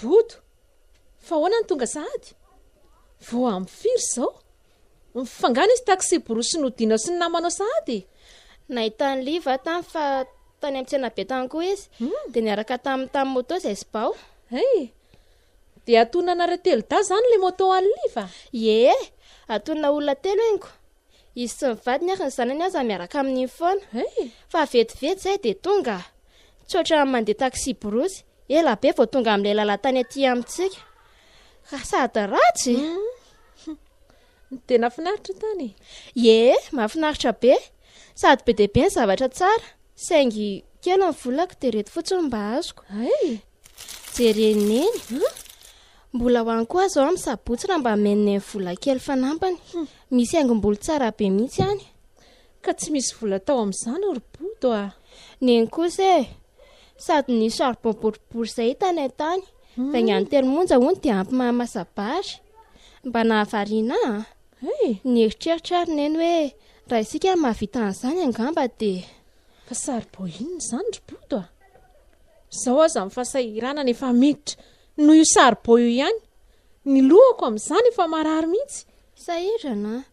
Bodo, fa ahoana no tonga sahady? Vao amin'ny firy izao? Fa nga nisy taksiborosy nodianao sy ny namanao sahady e? Nahitan'i Liv aho tany fa tany amin'ny tsenabe tany koa izy, hmm. dia niaraka taminy tamin'ny moto izay sy bao. Hey, dia atonanareo telo dahy izany ilay moto an'i Liv? Ie, atonina olona telo engo. Izy sy ny vadiny ary ny zanany aza miaraka amin'iny foana. Fa vetivety izay dia tonga. Tsy ohatran'ny mandeha taksiborosy. Ela be vao tonga amin'ilay lalan-tany aty amintsika. Ka sady ratsy e! Dia nahafinaritra tany e? Ie, mahafinaritra be. Sady be dia be ny zavatra tsara. Saingy kely ny volako dia ireto fotsiny mba azoko. Hay! Jereny eny. Mbola ho any koa zao am sabotsy raha mba menen vola kely fanampiny. Misy haingom-bolo tsara be mihitsy any. Ka tsy misy vola tao amin'izany ry Bodo a! Neny kosa e! Sady ny charbon boribory izay hita any an-tany, vaingan'ny telo monja hono dia ampy maha masa-bary. Mba nahavariana ahy an! Nieritreritra ary neny hoe raha isika no mahavita an'izany angamba dia. Fa charbon inona izany ry Bodo a! Izao aza ny fahasahiranana efa miditra. Noho io saribao io ihany. Ny lohako amin'izany efa marary mihitsy. Sahirana an!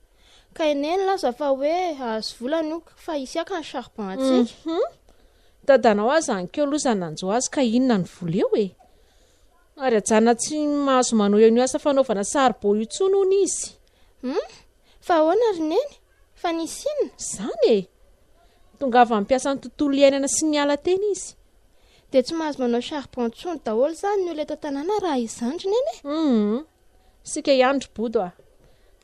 Ka i Neny nilaza fa hoe hahazo vola ny ok fa hisy haka ny charbon hatsiaka. Hum! Dadanao aza any keo loza nanjo azy ka inona ny vola eo e! Ary ajanona tsy mahazo manohy an'io asa fanaovana saribao io intsony hono izy. Hum! Fa ahoana ry Neny? Fa nisy inona? Izany e! Tongava hampiasa ny tontolo iainana sy miala teny izy. Dia tsy mahazo manao charbon intsony daholo izany ny olona eto an-tanàna raha izany ry Neny e! Hum! Isika ihany ry Bodo a!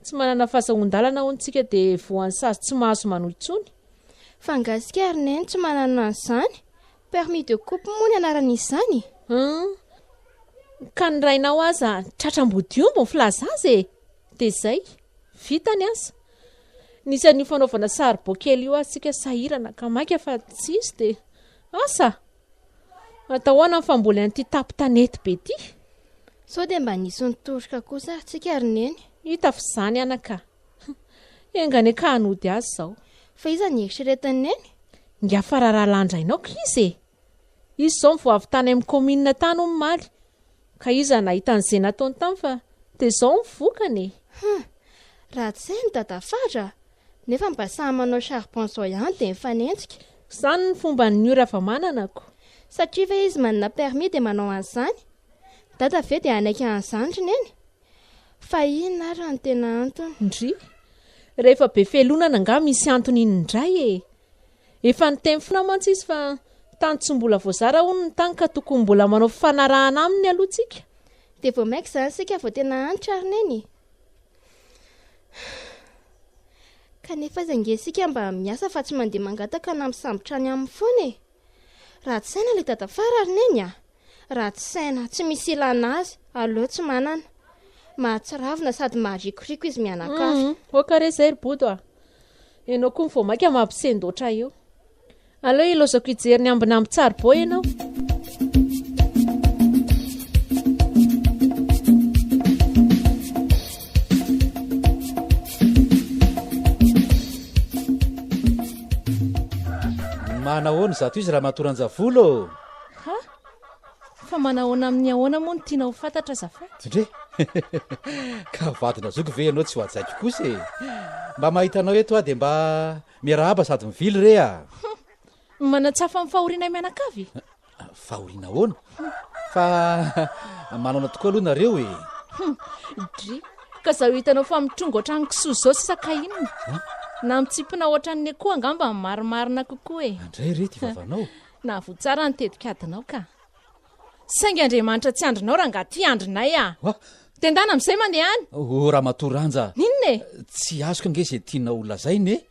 Tsy manana fahazoan-dalana hono isika dia voan'ny sazy tsy mahazo manohy intsony. Fa angaha isika ry Neny tsy manana an'izany? Permis de coupe moa ny anaran'izany? Hum, ka ny rainao aza tratra ambodiomby ny filaza azy e! Dia izay, vita ny asa. Nisy an'io fanaovana saribao kely io ary isika sahirana ka maika fa tsisy dia asa! Atao ahoana ny famboly an'ity tapo tanety be ity? Sao dia mba nisy nitoroka kosa ary tsika ry neny? Hita f'izany anaka. Enga anie ka hanody azy izao. Fa iza ny eritreretin'i neny? Nga fa raharaha lanjainao ko izy e! Izy izao mivoa avy tany amin'ny kaominina tany hono omaly, ka iza nahita an'izay nataony tany fa dia izao ny vokany e! Hum, ratsy saina i dadafara a! Nefa mba samy manao charbon izao ihany dia mifanenjika. Izany ny fomban'ny ora vao manana ko! Satria ve izy manana permis dia manao an'izany? Dada ve dia hanaiky an'izany ry neny? Fa inona ary no tena antony? Ndry. Rehefa be felonana angaha misy antony iny indray e! Efa niteny foana mantsy izy fa tany tsy mbola voazara hono ny tany ka tokony mbola manao fifanarahana aminy aloha tsika. Dia vao maika izany isika vao tena antitra ary Neny e! Kanefa aiza ange isika mba miasa fa tsy mandeha mangataka na misambotra any aminy foana e! Ratsy saina ilay dadafara ry neny a! Ratsy saina, tsy misy ilana azy, aleo tsy manana. Mahatsiravina sady maharikoriko izy mianakavy. Mhm. Oka re zay ry bodo a. Ianao koa ny vao maika mampisendoatra eo. Aleo ilaozako hijery ny ambinamby tsaribao ianao. Manahoana izato izy Ramatoa Ranjavolo ô? Ha? Fa manahoana amin'ny ahoana moa no tianao ho fantatra azafady? Dre, ka vadina zoky ve ianao tsy ho hajaiko kosa e? Mba mahita anao eto aho dia mba miarahaba sady mivily re a! Manatsafa amin'ny fahorianay mianakavy e! Fahoriana ahoana? Fa manana tokoa aloha nareo e! Dri, ka zaho hitanao fa mitrongo ohatran'ny kisoa izao sisa ka inona? Na mitsipona ohatran'ny ekoa angamba no marimarina kokoa e! Andray re ity vavanao! Nahavoa tsara ny tetikadinao ka! Saingy Andriamanitra tsy andrinao rangaha ity andrinay a! Wa! Dia ndana amin'izay mandeha any! O Ramatoa Ranja! Inona e? Tsy azoko ange izay tianao holazaina e!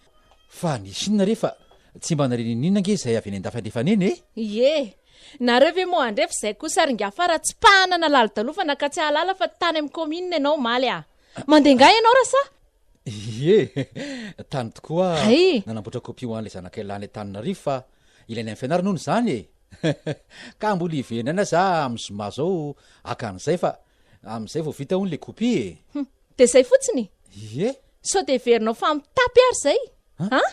Fa ny Chine re fa tsy mba narinininina ange izay avy any an-dafy alefa any eny e! Ie! Nareo ve moa handre f'izay kosa ary nga fa ratsipahana na lalodalofana ka tsy hahalala fa tany amin'ny commune ianao omaly a! Mandeha nga ianao ra sa? Ie! Tany tokoa aho nanamboatra copie ho an'ilay zanakay lahy any Antananarivo fa ilainay amin'ny fianarana hono izany e! Ka mbola hiverenana za amin'ny zoma zao haka an'izay fa amin'izay vao vita hono ilay copie e! Dia izay fotsiny? Ie. Sao dia heverinao fa mitapy ary izay? An?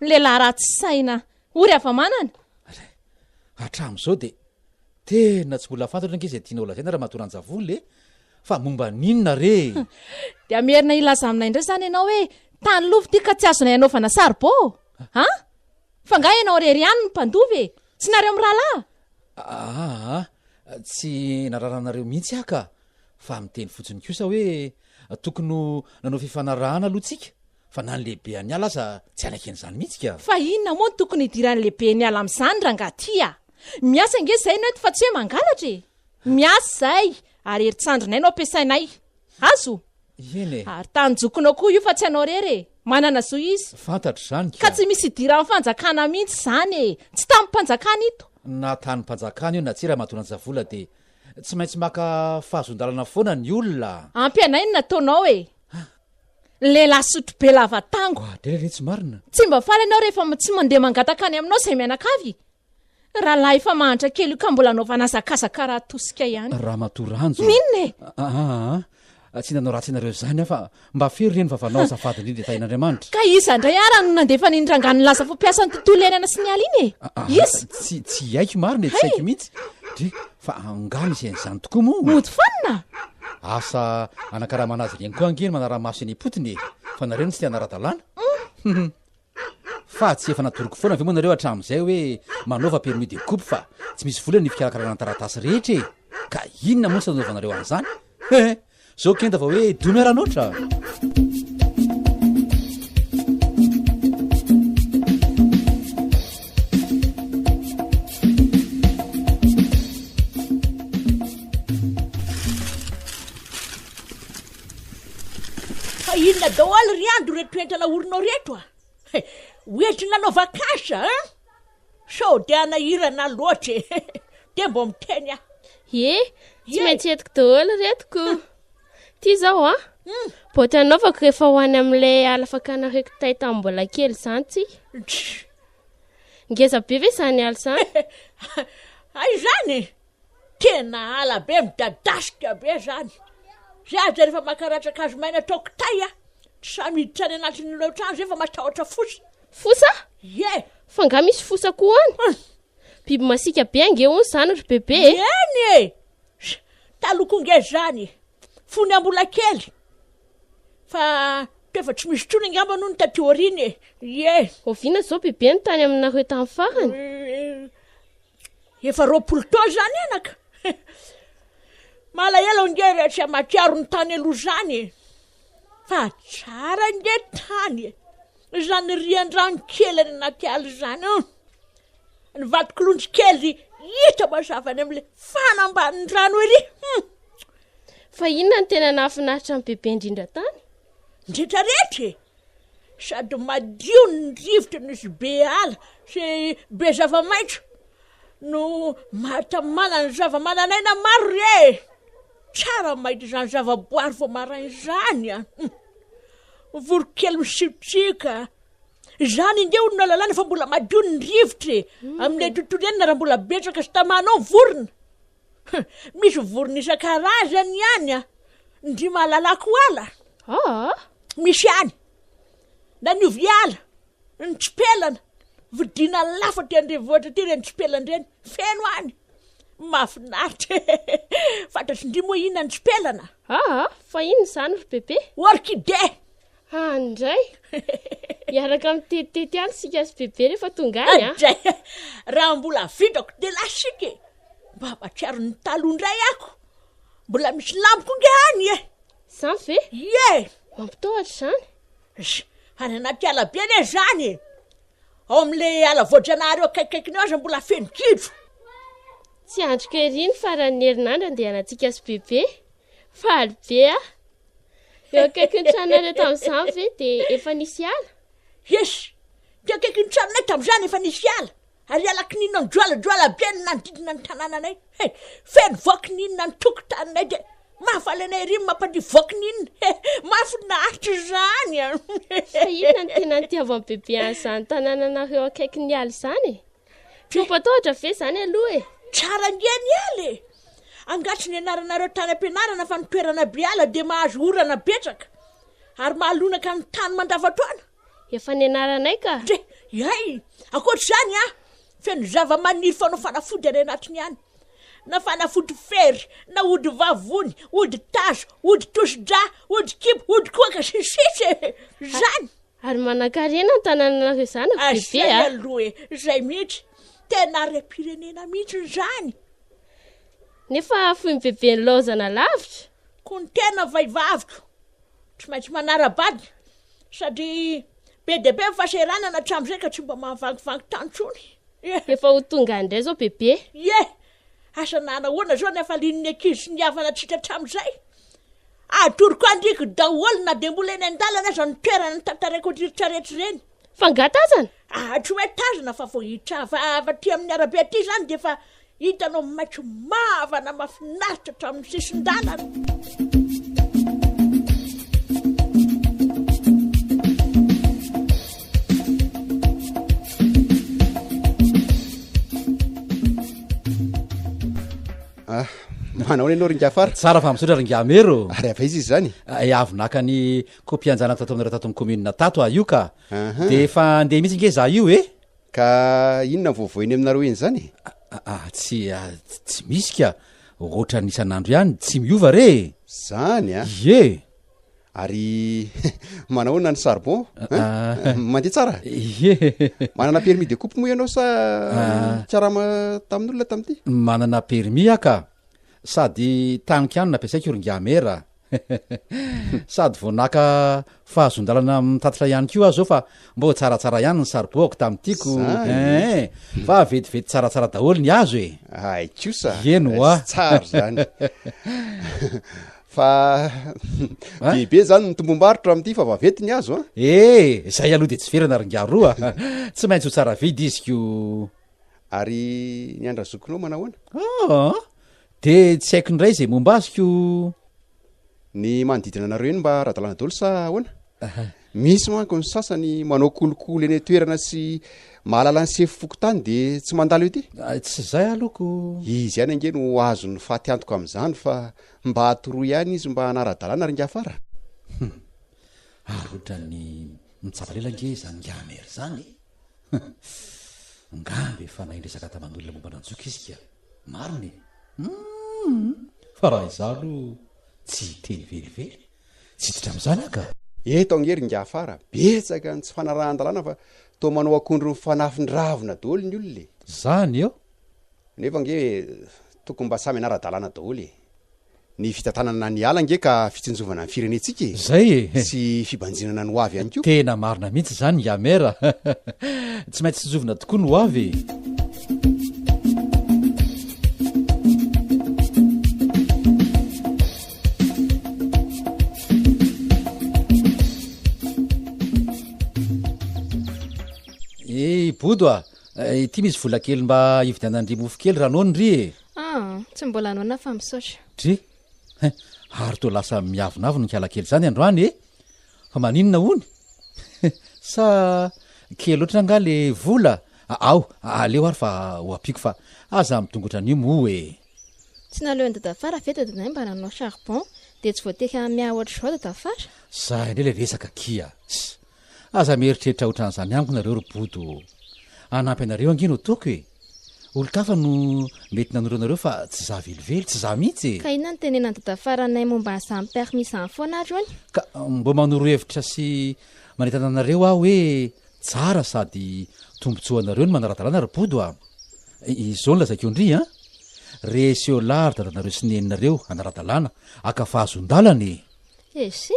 Ny lehilahy ratsy saina ory hava-manana. Hatramin'izao dia tena tsy mbola fantatra ange izay tianao lazaina Ramatoa Ranjavolo e! Fa momba n'inona re e? Dia merina hilaza aminay indray izany ianao hoe tany lova ity ka tsy azonay hanaovana saribao? An? Fa angaha ianao irery ihany no mpandova e? Tsy nareo mirahalahy? Aa, tsy nararanareo mihitsy aho ka! Fa miteny fotsiny kosa hoe tokony ho nanao fifanarahana aloha tsika fa na ny lehibean'ny ala aza tsy hanaiky an'izany mihitsy ka. Fa inona moa no tokony hidiran'ny lehiben'ny ala amin'izany rangah ty a! Miasa ange izay no eto fa tsy hoe mangalatra e! Miasa izay ary herintsandrinay no ampiasainay. Azo? Eny e! Ary tany zokinao koa io fa tsy anao rery e! Manana zo izy. Fantatro izany ka. Ka tsy misy hidiran'ny fanjakana mihitsy izany e! Tsy tamim-panjakana ito. Na tanim-panjakana io na tsia Ramatoa Ranjavola dia Tsy maintsy maka fahazon-dalana foana ny olona. Ampy anay ny nataonao e! Ny lehilahy sotro be lava tango. Ah, dia lehilahy tsy marina. Tsy mba faly ianao rehefa tsy mandeha mangataka any aminao izay mianakavy? Rahalahy efa mahantra kely io ka mbola anaovana hazakazaka raha tosika ihany. Ramatoa Ranjo. N'inona e? Ah, ah, ah. Tsy nanao ratsy anareo izany aho fa mba fero ireny vavanao azafady indrindra e Tahin'Andriamanitra. Ka iza indray ara no nandefany iny rangahy nilaza fa mpiasan'ny tontolo iainana sy ny ala iny e? Iza? Tsy tsy haiko marina e, tsy haiko mihitsy. Dry, fa angaha misy an'izany tokoa moa? Mody fanina! Asa anakaramana azy ireny koa ange ny manara-maso eny am-potony e! Fa nareo no tsy te hanara-dalàna? Hum! Fa tsy efa natoroko foana ve moa nareo hatramin'izay hoe manaova permis de coupe fa tsy misy vola ny fikarakarana ny taratasy rehetra e! ka inona moa tsy nanaovanareo an'izany? He! Zao kenda vao hoe domy aranoatra! Fa inona daholo ry Ando reto toetra naorinao reto a! Ah? Eh, hoentiny nanao vacance a! Ah? Sao dia hanahirana loatra e! Dia mba miteny aho. Ye, tsy maintsy entiko daholo retiko. Ty izao a. Hmm. Boaty anaovako rehefa ho any amin'ilay ala fakana reko tay tamin'ny mbola kely izany tsy. Ngeza be ve izany ala izany? Hay izany. Tena ala be midadasika be zany, zay aza rehefa maka ratran-kazo maina atao kitay a! tsy sahy miditra any anatin'ny lohatrano zay fa matahotra fosa. Fosa? Ie! Fa nga misy fosa koa any? Hum! Biby masiaka be ange hono zany ry bebe e! Eny e! Taloha koa nge zany e! Fony aho mbola kely! Fa toefa tsy misy tsony angamba hono taty aoriana e! Ie! Oviana zao bebe no tany aminareo tany farany? Efa roapolo taona izany anaka eh! Malahelo ange rehefa tsy hamatsiaro ny tany aloha izany e! Fa tsara ange tany e! Izany rian-drano kely any anaty ala izany an! Ny vatokolonjy kely hita mazava any amin'ilay fanambanin-drano ery hum! Fa inona no tena nahafinaritra ny bebe indrindra tany? Ny rehetra rehetra e! Sady madio ny rivotry ny sy be ala sy be zava-maitso no mahatamana ny zava-manan'aina maro ry ee! Tsara ny mahita izany zava-boary vao maraina izany an! Ny voronkely misitrika, izany ange hono no ahalalana fa mbola madio ny rivotra e! Amin'ilay tontolo iainana raha mbola betsaka sy tamana ao ny vorona. Hum, misy vorona isan-karazany ihany an, ndry malalako ala, Aa! misy ihany, na ny ovy ala, ny tsipelana, vidiana lafo aty an-drenivohitra aty ireny tsipelana ireny, feno any, mahafinaritra e, fantatry ndry moa inona ny tsipelana? Aa! fa inona izany ry Bebe? Orchidée! Ah, any indray Hiaraka mitetitety any sika sy bebe rehefa tonga any ah. Indray Raha mbola vidrako dia lasiko e Mba matsiaro ny taloha indray ako Mbola misy lamboko inge any e Izany ve? Ie Mampitahotra izany Sh, Any anaty ala be anie izany e Ao amin'le ala voajanahary eo akaikaikiny eo aza mbola feno gidro Tsy andriko ery ny faran'ny herinandro andehanantsika sy bebe Faly be aho. Eo akaikin'ny tranonareo tamin'izany ve dia efa nisy ala? Yes. Teo akaikin'ny tranonay tamin'izany efa nisy ala. Ary ala kininina mijoalajoala be ny nanodidina ny tanànanay. He, feno voa kininina ny tokotaninay dia mahafaly anay ery ny mampandihy voa kininina. He, mahafinaritra izany an! Fa inona no tena nitiavan'ny bebe an'izany tanànanareo akaikin'ny ala izany e? Trompetra ve zany aloha e? Tsara ngia ny ala e! Angaha tsy nianaranareo tany am-pianarana fa ny toerana be ala dia mahazo orana betsaka ary mahalonaka ny tany mandavantoana? Efa nianaranay ka! Dre, hay! Ankoatra izany an, feno zava-maniry fanao fanafody any anatiny any. Na fanafody fery, na ody vavony, ody tazo, ody tosi-dra, ody kibo, ody koaka, sy ny sisa e! Izany! Ary manankarena ny tanananareo zanako bebe a. Zay aloha e, zay mihitsy, tena harem-pirenena mihitsy izany. Nefa foin'i bebe nilaozana lavitra. Koa ny tena vaivaviko tsy maintsy manara-bady satria be dia be ny fahasahiranana hatramin'izay ka tsy mba mahavangivangy tany intsony. Efa ho tonga any indray izao bebe. Ie, Asa na nahoana izao ny hafalian'ny ankizy sy ny havana tsy hita hatramin'izay? Atoroko andriko daholo na dia mbola eny an-dalana aza ny toerana nitantaraiko an'ireny sarety ireny. Fa angaha tazana? Ahy tsy hoe tazana fa vao hitravava aty amin'ny arabe aty izany dia efa hitanao maitso mavana mahafinaritra hatramin'ny sisin-dalana. Ah, manao ny anao ringa fara tsara fa misaotra ringamero ary ava izy izy zany ah, eh, avy naka ny kopianjanaka tato aminareo tato amin'ny commune tato ah io ka de efa andeha mihitsy nge za io e ka inona voavoeny aminareo eny zany ah, ah tsy tsy misy ka ohatra ny isan'andro ihany tsy miova re zany a ye Ary manahoana ny charbon hein? Ah. Mandeha tsara? Ye. Manana permis de coupe moa ianao sa Ah. karama tamin'olona tamin'ity? manana permis aho ka sady taniko ihany nampiasaiko ry ngiamera sady vao naka fahazoan-dalana mitatitra ihany koa aho zao fa mbo tsaratsara ihany ny saribôko tamin'itiko Zany. Eh, fa vetivety tsaratsara daholo ny azo e Ay kosa. Ieno, ah. Tsy tsara zany. fa be be zany ny tombombarotra amin'ity fa vaventy ny azo a eh zay aloha de tsy verana ry ngaro a tsy maintsy ho tsara vidy izy ko ary ny andra zokinao manahoana ah de tsy haiko indray zay momba azy ko ny manodidina anareo eny mba ara-dalàna daholo sa ahoana misy manko ny sasany manao kolokolo eny toerana sy mahalala ny sefo fokontany de tsy mandalo ety ah, tsy zay alohako izy ihany ange no azon'ny fatiantoka amin'izany fa Mba atoroy ihany izy mba hanara-dalàna ry Ngafara a! Hum! Ary otrany mitsabo lela ange izany Ngamer izany e! Hum! Ngamba efa nahay niresaka taman'olona momba an'Antsoiko izy ka! Marina e! Hum! Fa raha izaho aloha tsy hiteny velively, tsy hiditra amin'izany aho ka! Eto ange ry Ngafara a! Betsaka ny tsy fanarahan-dalàna fa toa manao akondro mifanafin-dravina daholo ny olona e! Izany eo! Nefa ange tokony mba samy anara-dalàna daholo e! Ny fitantanana ny ala ange ka fitsinjovana ny firenentsika e! Zay e! Sy fibanjinana ny hoavy ihany koa. Tena marina mihitsy izany Yamer a! Tsy maintsy tsinjovina tokoa ny hoavy e! Bodo a! Ity misy vola kely mba hividianan-dry mofo kely raha noana ry e. Ah, tsy mbola noana fa misaotra. Dry, hein, ary toa lasa miavonavona hiala kely izany androany e. Fa maninona hono? Sa kely loatra angaha le vola? Ao, aleo ary fa ho ampiako fa aza midongatra an'io moa e. Tsy naleon'i Dadafara ve dadinay mba nanao charbon dia tsy voateky hahamia ohatr'izao Dadafara? Zay indray ilay resaka akia. Aza mieritreritra otran'izany amiko nareo ry bodo o! Hanampy anareo ange no ataoko e! Olon-kafa no mety nanoro anareo fa tsy za velively, tsy za mihitsy e! Ka inona no tenenan'i dada faranay momba an'izany permis izany foana ary hono? Ka mba manoro hevitra sy manentana anareo aho hoe tsara sady tombotsoa anareo ny manara-dalàna ry bodo a! Izao no lazaiko ndry a! Reheseolah ry dadanareo sy neninareo hanara-dalàna haka fahazoan-dalana e! Eshi!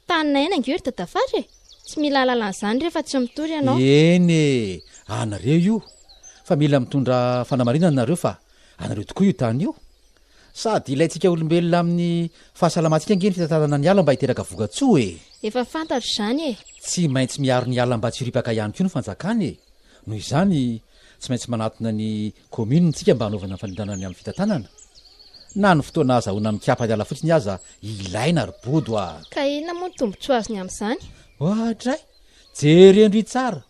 Tany naina ange ry dadafara e! Tsy mila alalana izany rehefa tsy mitory ianao. Eny e! Anareo io fa mila mitondra fanamarinana nareo fa anareo tokoa io tany io. Sady ilaintsika olombelona amin'ny fahasalamantsika ange ny fitantanana ny ala mba hiteraka vokatsoa e! Efa fantatro izany e! Tsy maintsy miaro ny ala mba tsy ho ripaka ihany koa ny fanjakana e! Noho izany, tsy maintsy manatona ny Commune ntsika mba hanaovana fanendrena ny amin'ny fitantanana? Na ny fotoana azahoana mikapa hiala fotsiny aza ilaina ry bodo a! Ka inona moa ny tombotsoa azony amin'izany? Oadray! Jereo ndry tsara!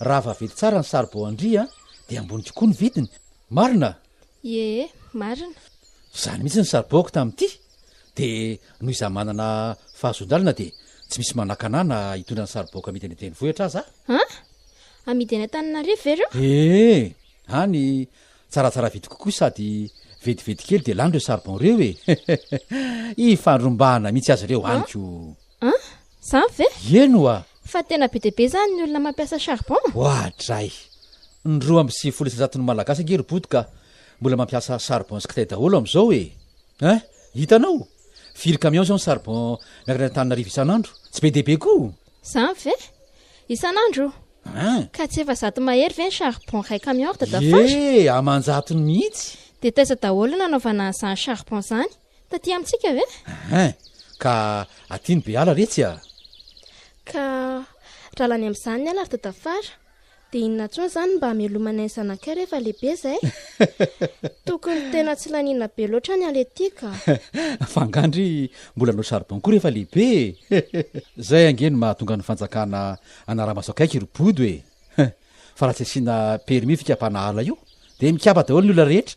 Raha vaventy tsara ny saribao an-dry an, dia ambony kokoa ny vidiny. Marina? Ie, marina. Izany mihitsy ny saribaoko tamin'ity! Dia noho izaho manana fahazoan-dalana dia tsy misy manakana ahy na hitondra ny saribaoka amidy any an-drenivohitra aza aho. An! Amidy any Antananarivo ve ireo? Ee! Any tsaratsara vidy kokoa sady vetivety kely dia lany ireo saribao ireo e! Ifandrombahana mihitsy aza ireo any ko! An! Izany ve? Eny oa! Fa tena be dia be izany ny olona mampiasa charbon? Oadray! Ny roa amby sivifolo isanjaton'ny Malagasy ange ry Bodo ka mbola mampiasa charbon sy kitay daholo amin'izao e! Eh! Hitanao? Firy camion izao ny charbon miakatra any Antananarivo isan'andro? Tsy be dia be koa! Izany ve? Isan'andro? Hein? Ka tsy efa zato mahery ve ny charbon iray camion ry dadafara? Ie! Aman-jatony mihitsy! Dia taiza daholo no nanaovana an'izany charbon izany? Taty amintsika ve? Hein! Ka aty no be ala re tsy a! Ka dralany amin'izany ny ala ry dadafara! Dia inona intsony izany mba hamelomana ny zanakay rehefa lehibe izay? Tokony tena tsy laniana be loatra ny aletika. Fa angaha ndry mbola hanao charbon koa rehefa lehibe e? Izay ange no mahatonga ny fanjakana hanara-maso akaiky ry bodo e! Fa raha tsy asiana permis fikapana ala io dia mikapa daholo ny olona rehetra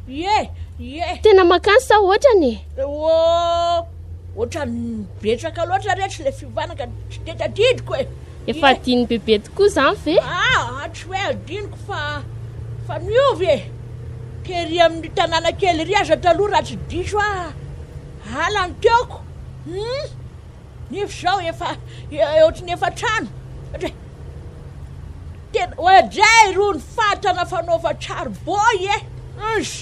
Ieh! Ieh! Tena makany sa ohatrany e? Eoo! Ohatrany betsaka loatra re tsy le fiovana ka tsy de tadidiko e! Efa adinon'i bebe tokoa izany ve? Aa! Tsy hoe adinoko fa fa miova e! Tery amin'ny tanàna kely ery aza taloha raha tsy diso aho, ala ny teoko! Hum! Nefa izao efa ohatry ny efa trano satria tena oadray irony fatana fanaova charbon e unh.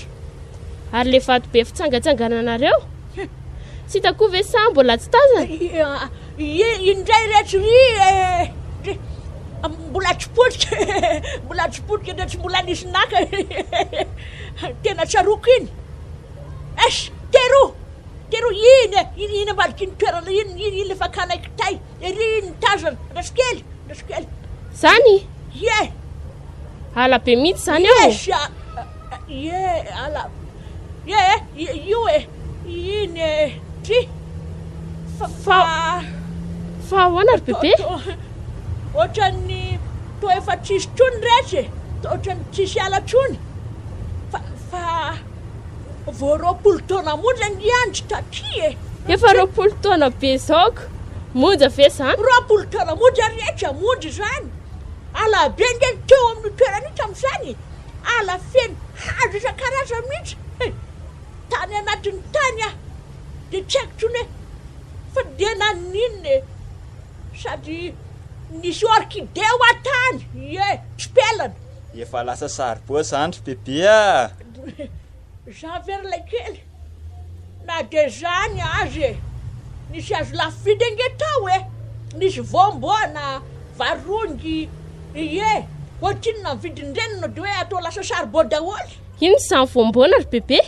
Ary le vato be fitsangatsangananareo? Tsy hita koa ve sa mbola tsy tazana? Indray reto ry e! Mbola tsy potika mbola tsy potika dia tsy mbola nisy naka tena tsaroako iny. Eish! Teroa! Tero iny e! Iny iny ambadiky iny toerana iny, iny iny le fakanay kitay, ery iny ny tazana, Andrasokely, Andrasokely. Zany? Ie! Ala be mihitsy zany ao? Ie, sha, ie, ala, ie, io e, iny e, ty, fa, fa, fa ahoana ry bebe? Ohatran'ny to efa tsisy tsony retsy e, ohatran'ny tsisy ala tsony, fa, fa. Vao roapolo taona monja ny andry taty e! Efa roapolo taona be zao ko! Monja ve zany? Roapolo taona monja ry Hetra, monja izany! Ala be nge ny teo amin'io toerana io tamin'izany e! Ala feno hazo isan-karazany mihitsy e! Tany anatiny tany aho dia tsy haiko intsony hoe fa dia naninona e! Sady nisy orchidée hoa tany, ie, tsipelina. Efa lasa saribao zany ry bebe ah! Jean ve ry laikely? Na dia izany aza e! Nisy azo lafo vidy ange tao e! Nisy voamboana, varongy, ie! Ohatrinona ny vidin'ireny no dia hoe atao lasa saribao daholo? Ino izany voamboana ry bebe?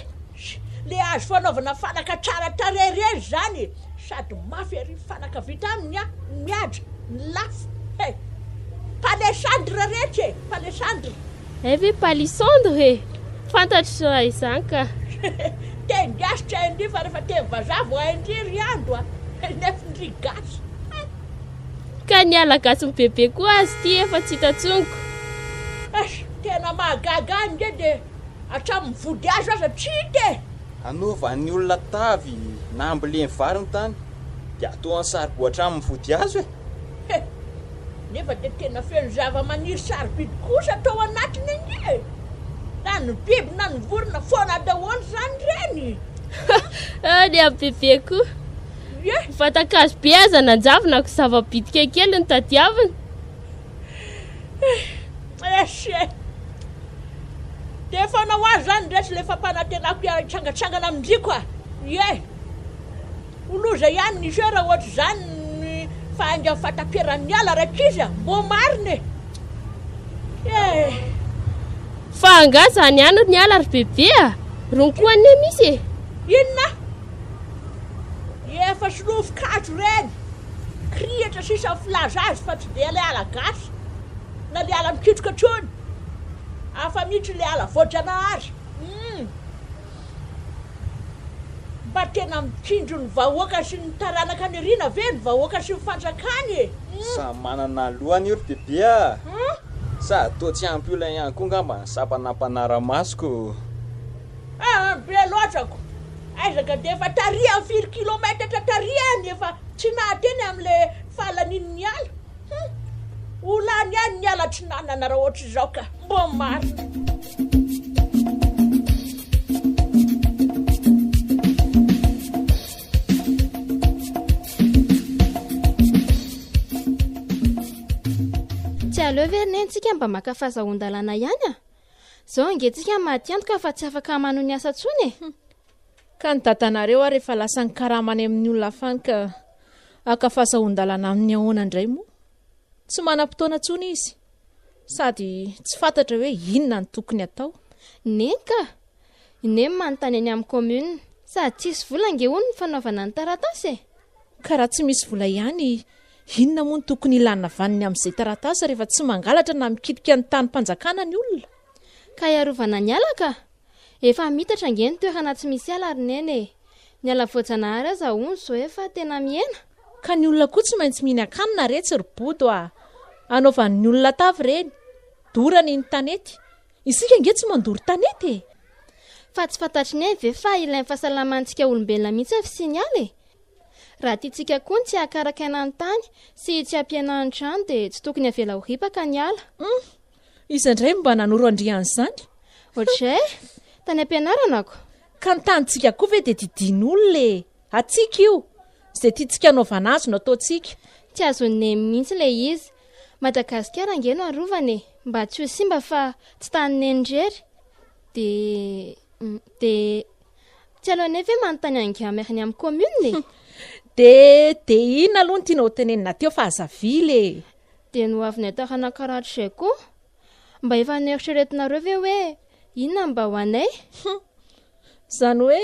Le azo fanaovana fanaka tsara tarehy irery zany e! Sady mafy ery fanaka vita aminy a! Mihaja, lafo he! Palissandre retsy e! Palissandre! Hay ve palissandre e! Fantatro raha izany ka! Teny gasy tsy hain-dry fa rehefa teny vazaha vao hain-dry ry Ando a! Nefn-dry gasy! Ka ny ala gasy mibebe koa azy ity efa tsy hita tsongo. Eish, tena mahagaga ahy nge de hatramin'ny vody azo aza tsy hita e! Hanovan'ny olona tavy na amboleny vary ny tany dia atoan'ny saribao hatramin'ny vody azo e! He! Nefa dia tena feno zavamaniry sarobidy kosa tao anatiny ange e! Na ny biby na ny vorona foana daholo izany ireny! Hah! Ny an'i Bebe koa! Vatan-kazo be aza nanjavona ko zava-bitika kely no tadiavina. Dia efa anao azy izany indray tsy ilay fampanantenako hitrangantsangan amin-driako a! Ie! Ho loza ihany ny jeu raha ohatr'izany ny fahaingan'ny fahataperan'ny ala rankizy a! Mbo marina e! Ie! Fa angaha izany ihany ry ny ala ry Bebe a! Rony koa anie misy e! Inona? Efa tsy novokazo ireny kirihitra sisa ny filaza azy fa tsy dia ilay ala gasy na ilay ala mikitroka intsony. Hafa mihitsy ilay ala voajanahary. Humm. Mba tena mitsinjo ny vahoaka sy ny taranaka niriana ve ny vahoaka sy ny fanjakany e? Humm. Sa manana lohany io ry bebe a! Sa toa tsy ampy olona ihany koa angamba ny sampanampanara-masoko. Aa be loatra ko aiza ka de efa tarihan firy kilometatra tarihany efa tsy nahateny am le falanin ny ala hum ho lany ihany ny ala tsy nanana raha ohatry zao ka mbo marina. Zao ange tsika maty antoka fa tsy afaka manohy ny asa tsony e! Ka ny dadanareo ary efa lasa nikarama any amin'ny olona hafa any ka haka fahazahoan-dalana aminy ahoana indray moa? Tsy manam-potoana tsony izy sady tsy fantatra hoe inona no tokony atao. Neny ka! Neny manontany eny amin'ny commune. Sady tsisy vola ange hono ny fanaovana ny taratasy e! Ka raha tsy misy vola ihany Inona moa no tokony ilana vaniny amin'izay taratasy rehefa tsy mangalatra na mikitika ny tanim-panjakana ny olona? Ka hiarovana ny ala ka! Efa mitatra ange ny toerana tsy misy ala ry Neny e! Ny ala voajanahary aza hono zao efa tena mihena! Ka ny olona koa tsy maintsy mihinan-kanina re tsy ry Bodo a! Anaovan'ny olona tavy ireny! Dorany ny tanety! Isika ange tsy mandoro tanety e! Fa tsy fantatry Neny ve fa ilain'ny fahasalamantsika olombelona mihitsy ny fisian'ny ala e! Raha tiantsika koa ny tsy hahakarakaina ny tany sy tsy hampihenana ny rano dia tsy tokony havela ho ripaka ny ala. Humm! Iza indray no mba nanoro andrian'izany? Ohatr'izay? Tany am-pianarana ko! Ka ny tanintsika koa ve dia didian'olona e! Antsika io! Izay tiantsika anaovana azy no ataontsika. Tsy azon'i Neny mihitsy ilay izy. Madagasikara ange no arovana e! Mba tsy ho simba fa tsy tanin'i Neny irery dia dia Tsy aleo anie ve manontany an'i Gamy ary ny amin'ny commune e? De de inona aloha no tianao ho tenenina teo fa aza vily e! Dia ny ho avin'ny hatarana karatra izay koa. Mba efa noeritreretinareo ve hoe inona no mba ho anay? Hum! Izany hoe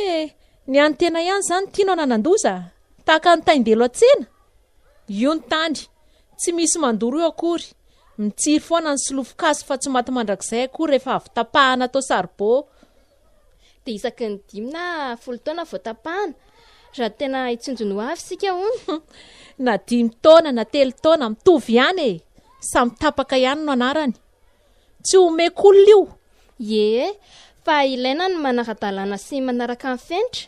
ny an'ny tena ihany izany tianao nanan-doza? Tahaka ny tain-delo an-tsena? Io ny tany, tsy misy mandoro io akory. Mitsiry foana ny solofon-kazo fa tsy maty mandrakizay akory rehefa avy tapahana atao saribao. dia isaky ny dimy na folo taona vao tapahana, raha tena hitsinjony ho avy isika hono. Na dimy taona na telo taona, mitovy ihany e! Samy tapaka ihany no anarany. Tsy omeko olona io. Ie, fa ilaina ny manara-dalàna sy manaraka ny fenitra.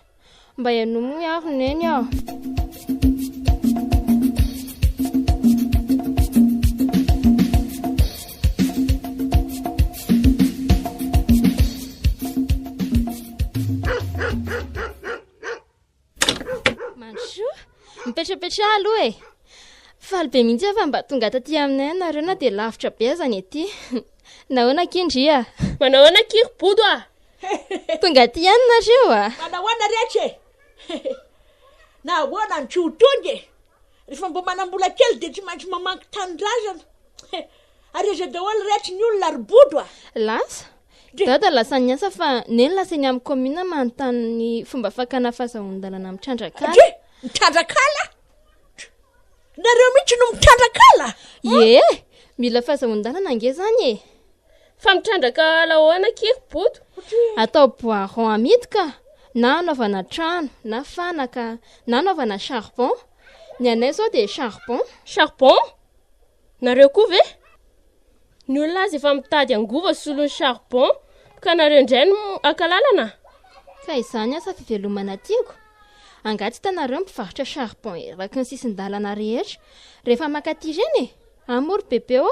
Mba ianumgny aho neny ah. Mipetrapetraha aloha e! Faly be mihitsy aho fa mba tonga taty aminay ianareo na dia lavitra be aza ny ety. Nahoana akia ndry a! Manao ahoana akia ry Bodo a! Tonga aty ihany nareo a. Fa nahoana rehetra e? Nahoana ny tsy ho tonga e? Rehefa mba manam-bola kely dia tsy maintsy mamangy tanindrazana. Ary aiza daholo rehetra ny olona ry bodo a? Lasa? Dada lasa niasa fa neny lasa eny amin'ny commune manontany ny fomba fakana fahazahoan-dalana mitrandraka ala. Mitrandraka ala? Nareo mihitsy no mitrandraka ala? Ie, mila fahazahoan-dalana ange zany e. Fa mitrandraka ala ahoana akia ry Boto? Atao bois rond amidy ka, na anaovana trano, na fanaka, na anaovana charbon. Ny anay izao dia charbon. Charbon? Nareo koa ve? Ny olona aza efa mitady angovo solon'ny charbon, ka nareo indray no haka lalana? Ka izany asa fivelomana tiako. Angaha tsy hitanareo mpivarotra charbon eraky ny sisin-dalana rehetra rehefa makaty ireny e? Amory bebe ô!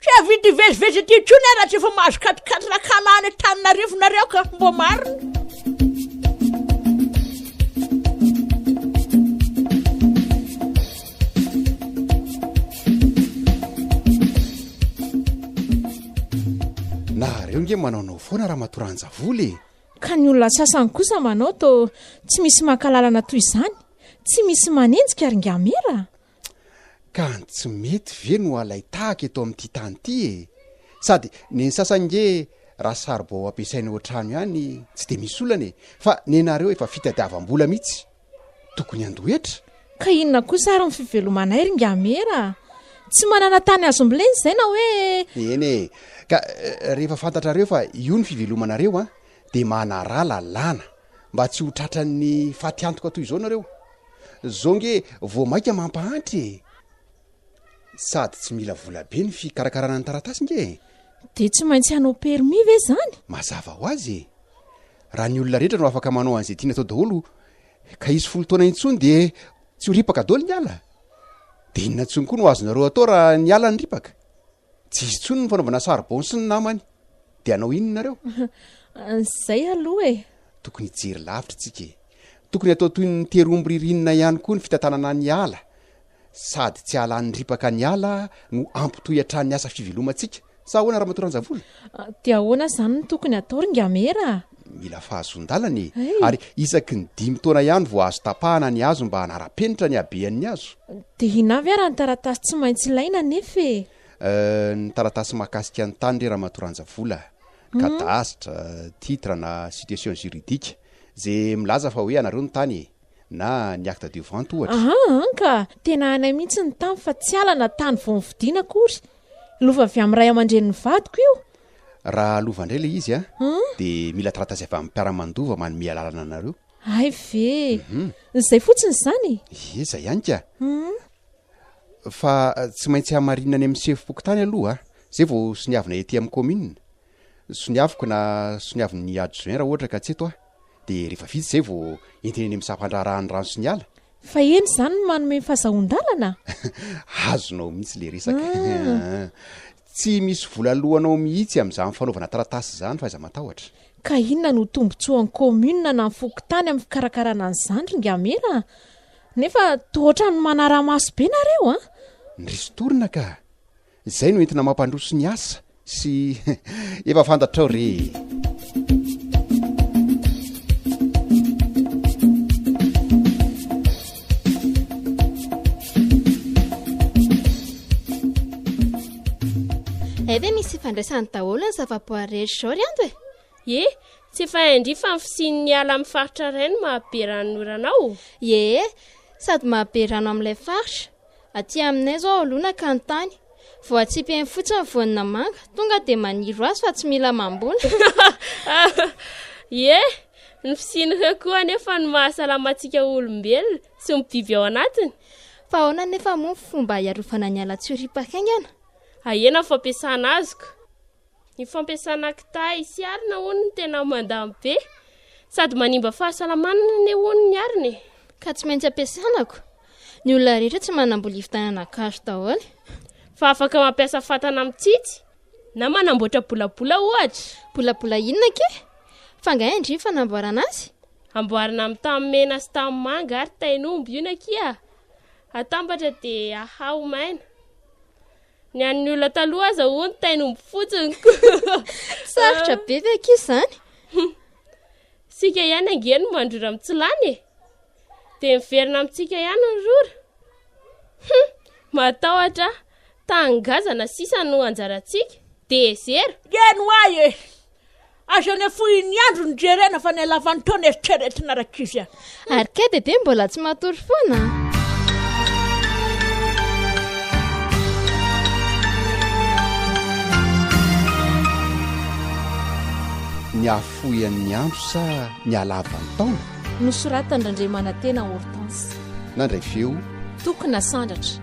Tsy hahavita hivezivezy aty intsony ah raha tsy efa mahazo quatre quatre la cana any Antananarivo nareo ka, mbô marina. Nahareo nge manaonao foana Ramatoa Ranjavola e! Ka ny olona sasany kosa manao tô tsy misy maka lalana toy izany, tsy misy manenjika ry Ngamera? Ka ny tsy mety ve no alain-tahaka eto amin'ity tany ity e? Sady neny sasany nge raha saribao ampiasaina eo an-trano ihany tsy dia misy olana e! Fa nenareo efa fitadiavam-bola mihitsy tokony handoa hetra? Ka inona kosa ary ny fivelomanay ry Ngamera? Tsy manana tany azo mbolena izay na hoe. Eny e! Ka rehefa fantatrareo fa io ny fivelomanareo an, dia manaraha lalàna. Mba tsy ho tratran'ny fatiantoka toy izao nareo. Zao nge vao maika mampahantra e. Sady tsy mila vola be ny fikarakarana ny taratasy nge e. Dia tsy maintsy hanao permis ve izany? Mazava ho azy e. Raha ny olona rehetra no afaka manao an'izay tiany atao daholo ka hisy folo taona intsony dia tsy ho ripaka daholo ny ala. Dia inona intsony koa no azonareo atao raha ny ala no ripaka? Tsy izy intsony ny fanaovana saribao sy ny namany. Dia hanao inona nareo? Izay aloha e! Tokony hijery lavitra isika e! Tokony hatao toy ny tery omby ririnina ihany koa ny fitantanana ny ala. Sady tsy hahalany ripaka ny ala no hampitohy hatrany ny asa fivelomantsika. Sa ahoana Ramatoa Ranjavola? Dia ahoana izany no tokony hatao ry Ingamera? Mila fahazoan-dalana e! Ary isaky ny dimy taona ihany vao azo tapahana ny hazo mba hanara-penitra ny habean'ny hazo. Dia inona avy ary ny taratasy tsy maintsy ilaina anefa e? Ny taratasy mahakasika ny tany re Ramatoa Ranjavola. Cadastre, titre na situation juridique. Izay milaza fa hoe anareo ny tany e! na ny acte de vente ohatra. Aha, an ka! Tena anay mihitsy ny tany fa tsy ala na tany vao nividiana akory. Lova avy amin'ny ray aman-drenin'ny vadiko io. Raha lova indray ilay izy dia mila taratasy avy amin'ny mpiara-mandova manome alalana anareo. Hay ve! Izay fotsiny izany e! Ie, izay ihany ka! Fa tsy maintsy hamarinina any amin'ny sefom-pokontany aloha izay vao soniavina ety amin'ny kaominina. Soniaviko na soniavin'ny adjoint raha ohatra ka tsy eto aho. dia rehefa vita izay vao entina eny amin'ny sampan-draharaha ny rano sy ny ala? Fa eny izany no manome ny fahazahoan-dalana? Azonao mihitsy ilay resaka. Tsy misy vola aloanao mihitsy amin'izany fanaovana taratasy izany fa aiza matahotra. Ka inona no tombontsoan'ny commune na ny fokontany amin'ny fikarakarana an'izany ry Ngamera a? Nefa toa ohatran'ny manara-maso be nareo a! Ny ristourne ka! Izay no entina mampandroso ny asa sy efa fantatrao re e. Zay ve misy ifandraisany daholo ny zavaboary rehetra izao ry ando e ye tsy efa indri fa ny fisian'ny ala amin'ny faritra iray no mahabe ranon'orana ao ye sady mahabe rano amin'ilay faritra Aty aminay zao olona ka ny tany voatsipihiny fotsiny ny voany na manga tonga dia maniry ho azy fa tsy mila mamboly. Ie, ny fisian'ireo koa anefa no mahasalama antsika olombelona sy ny biby ao anatiny. Fa ahoana anefa moa ny fomba hiarovana ny ala tsy ho ripa-haingana? Ahena ny fampiasana azy ko. Ny fampiasana kitay sy arina hono no tena mandany be sady manimba fahasalamana anie hono ny arina e. Ka tsy maintsy ampiasana ko. Ny olona rehetra tsy manambola hivitanana gasy daholo. Fa afaka mampiasa fatana mitsitsy na manamboatra bolabola ohatra. Bolabola inona ke? Fa nga indry ny fanamboarana azy? Amboarina amin'ny tany mena sy tany manga ary tain'omby io nakia. Atambatra dia ahaha ho maina. Ny an'ny olona taloha aza hono tainomby fotsiny ko. Sarotra be ve ankizy izany? Sika ihany ange no mandrora mitsilany e. Dia miverina amintsika ihany ny rora. Hum, matahotra tangazana sisa no anjarantsika. Dia zero. Geno ahy e. Aza any afohin'ny andro no jerena fa ny halavan'ny taona eritreretina rakivy a. Ary kay Dede mbola tsy matory foana a. Ny afoian'ny andro sa ny halavan'ny taona? Nosoratan-dRandriamanantena Hortense. Nandray feo. Tokona Sandratra.